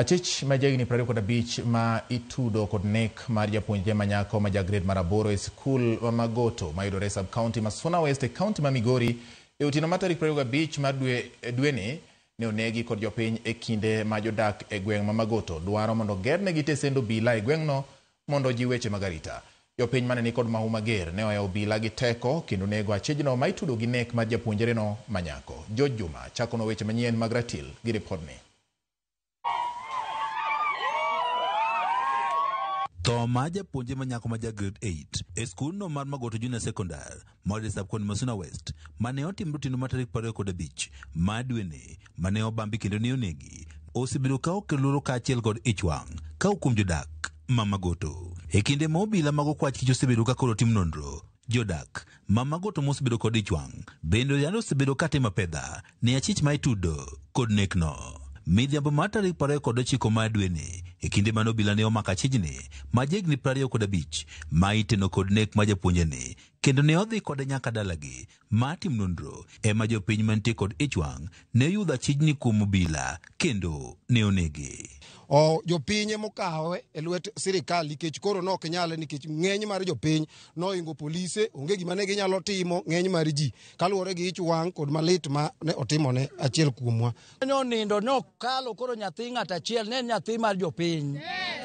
Achich ma jahigni prariyo kod abich ma itudo kod nek mar japuonjre manyako ma ja grade mar aboro e sikul ma Magoto mayudore e sub county ma Suna West e county ma Migori e otieno mar tarik prariyo gabich mar dwe dweni ne onegi kod jopiny e kinde ma jodak e gweng' ma Magoto dwaro mondo ogernegi tesend obila e gweng'no mondo ojiw weche mag arita. Jopiny mane ni kod mahu mager ne ohewo obila gi teko kendo nego achijno ma itudo gi nek mar japuonjereno ma nyako. George Juma chakonwa weche manyien mag ratil gi ripodni. Tho mar japuonjre manyako ma ja grade eight e skundno mar Magoto Junior Secondary Moses Sapkon Masuna West mane otim rutino ma tarik prariyo kod abich ma dwene mane obambi kendo ne onegi osebedo ka okel luoro kaachiel kod ichwang' ka okuom jodak ma Magoto. E kinde ma obila mag okwach kich osebedo ka koro tim nonro, jodak ma Magoto mosebedo kod ichwang' bende oyal osebedo ka timo apedha Ne achich ma itudo kod nekno. Midhiambo mar tarik piero ariyo kod ochiko mar dweni, e kinde mane obila ne omako achijni ma jahigni piero ariyo kod abich, ma iteno kod nek mar japuonjeni, kendo ne odhi kode nyaka dalagi mar tim nonro, ema jopiny mantie kod ichwang' ne oyudho achijni kuom obila kendo ne onege. O, jopiny ema okawe e lwet sirikal nikech koro ne ok nyale nikech ng'eny mar jopiny nohingo polise, onge gima ne ginyalo timo, ng'eny mar ji. kaluwore gi ich wang' kod malit ma ne otimone achiel kuomwa. Nonindo nokalo koro nyathi ng'at achiel ne en nyathi mar jopiny.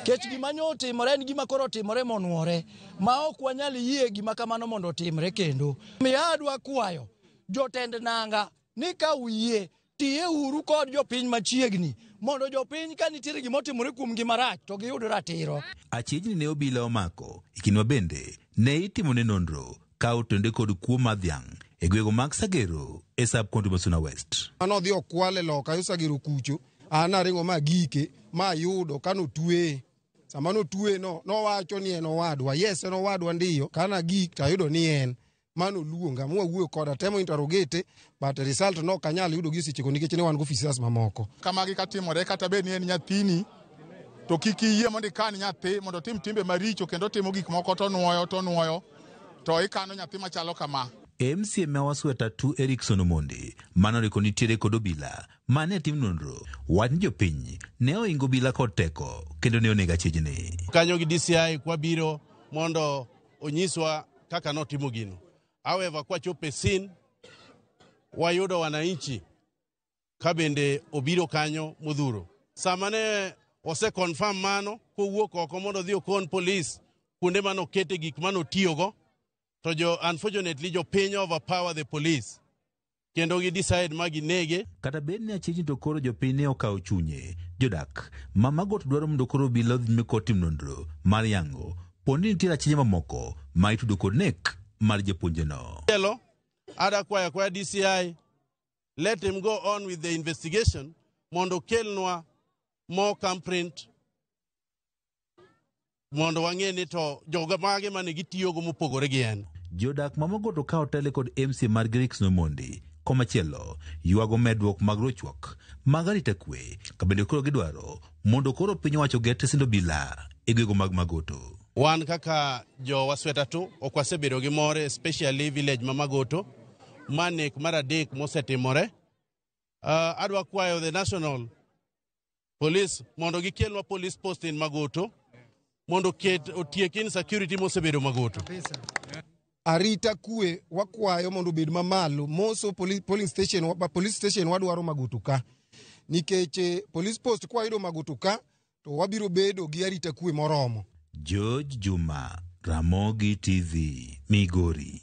Kech gima ne otimore en gima koro otimore monwore ma ok wanyal yie gima kamano mondo otimre kendo. Miyo adwa kwayo jotend nanga ni ka uyie Tiye uru kod jopiny machiegni mondo jopiny ka nitiere gima otimore kuom gima rach to giyud ratiro. Achiegni ne obila omako ikinwa bende ne itimone nonro ka otende kod kuo mar dhiang' e gwego mag Sagero e sub county ma Suna West. Mane odhi okwale loka yo Sagero kucho, an naringo ma agike ma ayudo kane otweye. Sama ne otweye no, nowacho ni en owadwa. Yes en owadwa ndiyo. Kane agik to ayudo ni en. mano luonga mwawuoyo koda temo interrogate but result no kanyal yudo gi sechego nikech ne wan go officers mamoko kamagi katimore kata bed ni en nyathini to kik iyie mondo ikan nyathi mondo otim timbe maricho kendo timo gik moko to nuoyo to nuoyo to ikano nyathi machalo kama MCA ma Wasweta Tu Erikson Omondi manoriko nitiere kod obila mane tim nonro wach ni jopiny ne oingo obila kod teko kendo ne onega chijni. Kanyo gi DCI kwabiro mondo onyiswa kaka notimo gino. However, kwachopo e scene wayudo wananchi ka bende obiro kanyo modhuro. Sama ne ose confirm mano kowuok oko mondo odhi okon polis kuonde mane okete gik mane otiyogo to jo unfortunately jopiny overpower the police kendo gi decide ma ginege. Kata bed ni achich to koro jopiny ne okawo chunye, jodak ma Magot dwaro mondo koro obila odhi nyime kod tim nonro mar yango po ni nitiere achinje mamoko ma itudo kod nek mar japuonjeno. Hello, ada kwaya kwaya DCI, let him go on with the investigation mondo kelnwa more camp print mondo wang'e ni to joga mage mane gitiyogo mopogore gi en. Jodak ma Mogoto ka otele kod MC mar Grix Nomondi komachielo ywago medruok mag rochruok mag arita kwe kabende koro gidwaro mondo koro piny owacho oger tesind obila e gwego mag Magoto. Wan kaka jo Wasweta tu ok wasebedo gi more especially village ma Magoto ma nek mar adek mosetimore. Uh, adwa kwayo the national polis mondo gikelnwa polis post in Magoto mondo ket otiek insecurity mosebedo Magoto. Arita kwe wakwayo mondo obed mamalo moso poli- polling station wa- police station wadwaro Magoto ka nikech eh, police post kwayudo Magoto ka to wabiro bedo gi arita kwe moromo. George Juma, Ramogi TV, Migori.